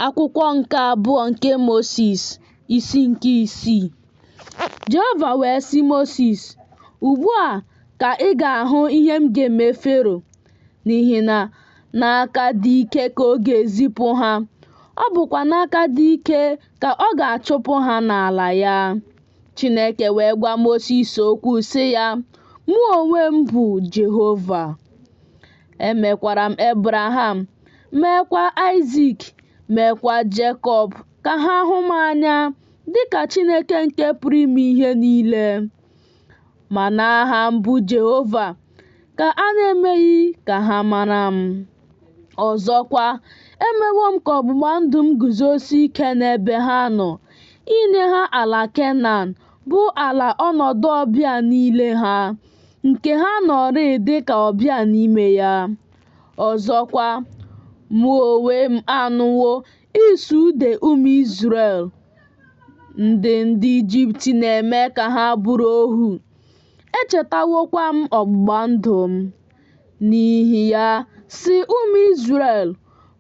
Akwụkwọ nke abụọ nke Mosis isi nke isii Jehova wee sị Mosis, Ugbu a ka ị ga-ahụ ihe m ga-eme Fero, n'ihi na n'aka dị ike ka ọ ga-ezipụ ha, ọ bụkwa n'aka dị ike ka ọ ga-achụpụ ha n'ala ya. Chineke wee gwa Mosis okwu sị ya, Mụ onwe m bụ Jehova. Emekwara m Ebraham, meekwa Aịzik, meekwa Jekọb ka ha hụ m anya dị ka Chineke nke pụrụ ime ihe niile. Ma n'aha m bụ Jehova ka a na-emeghị ka ha mara m. Ọzọkwa, emewo m ka ọgbụgba ndụ m guzosie ike n'ebe ha nọ, inye ha ala Kenan, bụ ala ọnọdụ ọbịa niile ha, nke ha nọrịị dị ka ọbịa n'ime ya. Ọzọkwa, mụ onwe m anụwo ịsụ ude ụmụ Izrel, ndị ndị Ijipt na-eme ka ha bụrụ ohu. Echetawokwa m ọgbụgba ndụ m. N'ihi ya, sị ụmụ Izrel,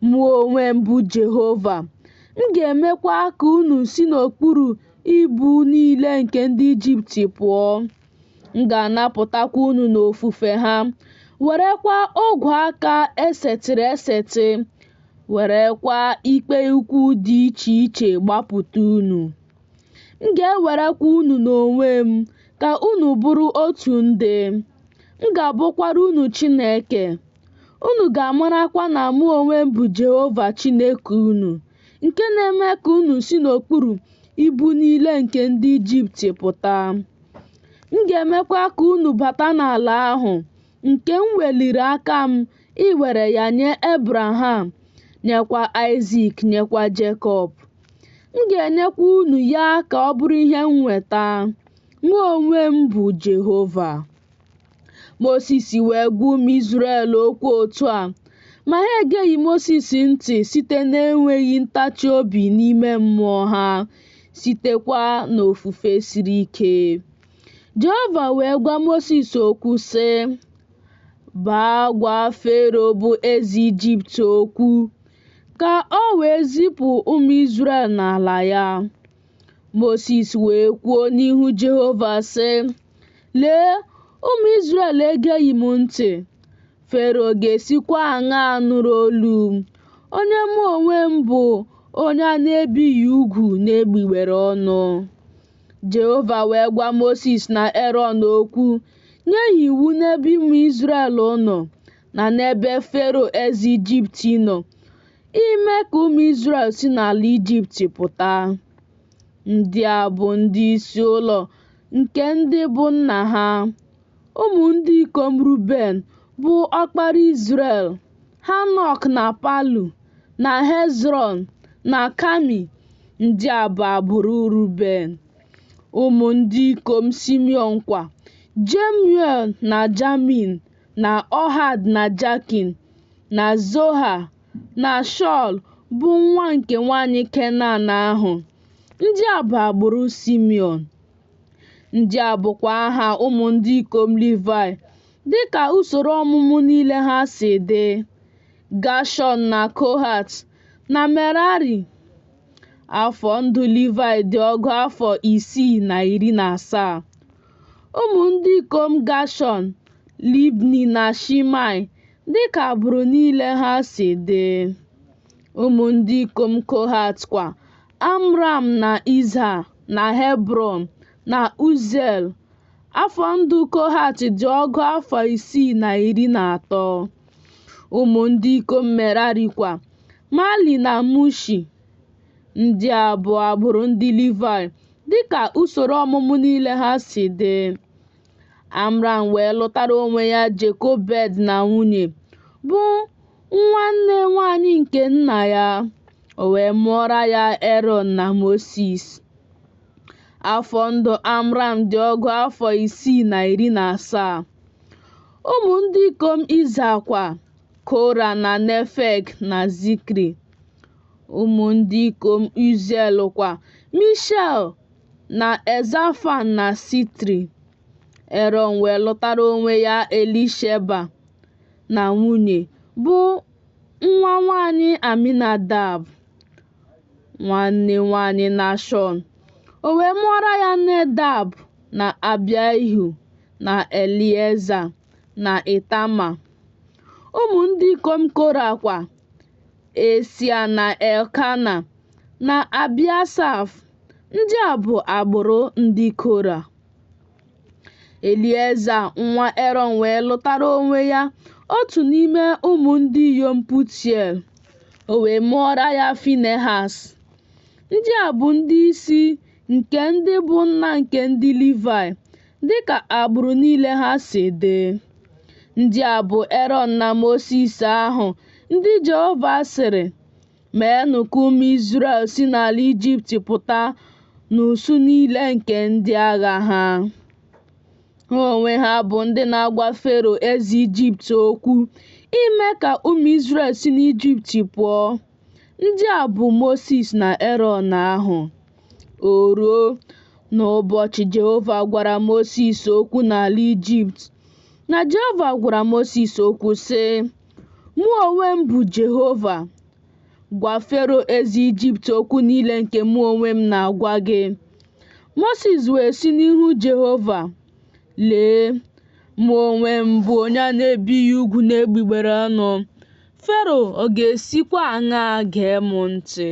Mụ onwe m bụ Jehova. M ga-emekwa ka unu si n'okpuru ibu niile nke ndị Ijipt pụọ. m ga-anapụtakwa unu n'ofufe ha werekwa ogwe aka esetịrị esetị werekwa ikpe ukwu dị iche iche gbapụta unu m ga-ewerekwa unu n'onwe m ka unu bụrụ otu ndị m ga-abụkwara unu Chineke unu ga-amarakwa na mụ onwe m bụ Jehova Chineke unu nke na-eme ka unu si n'okpuru ibu niile nke ndị Ijipt pụta. M ga-emekwa ka unu bata n'ala ahụ nke m weliri aka m iwere ya nye Ebraham, nyekwa Aịzik, nyekwa Jekọb. M ga-enyekwa unu ya ka ọ bụrụ ihe nnweta. Mụ onwe m bụ Jehova. Mosis wee gwa ụmụ Izrel okwu otu a, ma ha egeghị Mosis ntị site n'enweghị ntachi obi n'ime mmụọ ha, sitekwa n'ofufe siri ike. Jehova wee gwa Mosis okwu sị, Baa gwa Fero bụ eze Ijipt okwu, ka o wee zipụ ụmụ Izrel n'ala ya. Mosis wee kwuo n'ihu Jehova sị, Lee, ụmụ Izrel egeghị m ntị, Fero ga-esikwa aṅaa nụrụ olu m, onye mụ onwe m bụ onye a na-ebighị ugwu n'egbugbere ọnụ? Jehova wee gwa Mosis na Erọn okwu, nye ha iwu n'ebe ụmụ Izrel nọ, na n'ebe Fero eze Ijipt nọ, ime ka ụmụ Izrel si n'ala Ijipt pụta. Ndị a bụ ndị isi ụlọ nke ndị bụ nna ha. Ụmụ ndị ikom Ruben bụ ọkpara Izrel, Hanok na Palu, na Hezrọn, na Kami, ndị a bụ agbụrụ Ruben. Ụmụ ndị ikom Simiọn kwa, Jemuel na Jamin, na Ohad na Jakin, na Zoha, na Shọl bụ nwa nke nwaanyị Kenan ahụ. Ndị a bụ agbụrụ Simiọn. Ndị a bụkwa aha ụmụ ndị ikom Livayị dịka usoro ọmụmụ niile ha si dị, Gashọn na Kohat, na Merari. Afọ ndụ Livayị dị ọgụ afọ isii na iri na asaa. Ụmụ ndị ikom Gashọn, Libni na Shimei dịka agbụrụ niile ha si dị. Ụmụ ndị ikom Kohat kwa, Amram na Izha na Hebrọn na Uziel. Afọ ndụ Kohat dị ọgụ afọ isii na iri na atọ. Ụmụ ndị ikom Merari kwa, Mali na Mushi. Ndị a bụ agbụrụ ndị Livaị dịka usoro ọmụmụ niile ha si dị. Amram wee lụtara onwe ya Jekobed na nwunye, bụ nwanne nwanyị nke nna ya, o wee mụọra ya Erọn na Mosis. Afọ ndụ Amram dị ọgụ afọ isii na iri na asaa. Ụmụ ndị ikom Iza kwa, Kora na Nefeg na Zikri. Ụmụ ndị ikom Uziel kwa, Mishael, na Elzafan na Sitri. Erọn wee lụtara onwe ya Elisheba na nwunye, bụ nwa nwanyị Aminadab, nwanne nwanyị Nashọn. O wee mụọra ya Nedab na Abiahu na Elieza. na Itama. Ụmụ ndị ikom Kora kwa, Esia na Elkana na Abiasaf. Ndị a bụ agbụrụ ndị Kora. Elieza nwa Erọn wee lụtara onwe ya otu n'ime ụmụ ndị inyom Putiel, o wee mụọra ya Finehas. Ndị a bụ ndị isi nke ndị bụ nna nke ndị Livayị, dịka agbụrụ niile ha si dị. Ndị a bụ Erọn na Mosis ahụ, ndị Jehova sịrị, Meenụ ka ụmụ Izrel si n'ala Ijipt pụta n'usuu niile nke ndị agha ha. Ha onwe ha bụ ndị na-agwa Fero eze Ijipt okwu ime ka ụmụ Izrel si n'Ijipt pụọ. Ndị a bụ Mosis na Erọn ahụ. O ruo n'ụbọchị Jehova gwara Mosis okwu n'ala Ijipt, na Jehova gwara Mosis okwu sị, Mụ onwe m bụ Jehova. Gwa Fero eze Ijipt okwu niile nke mụ onwe m na-agwa gị. Mosis wee sị n'ihu Jehova, Lee, mụ onwe m bụ onye a na-ebighị ugwu n'egbugbere ọnụ. Fero ọ ga-esikwa aṅaa gee m ntị?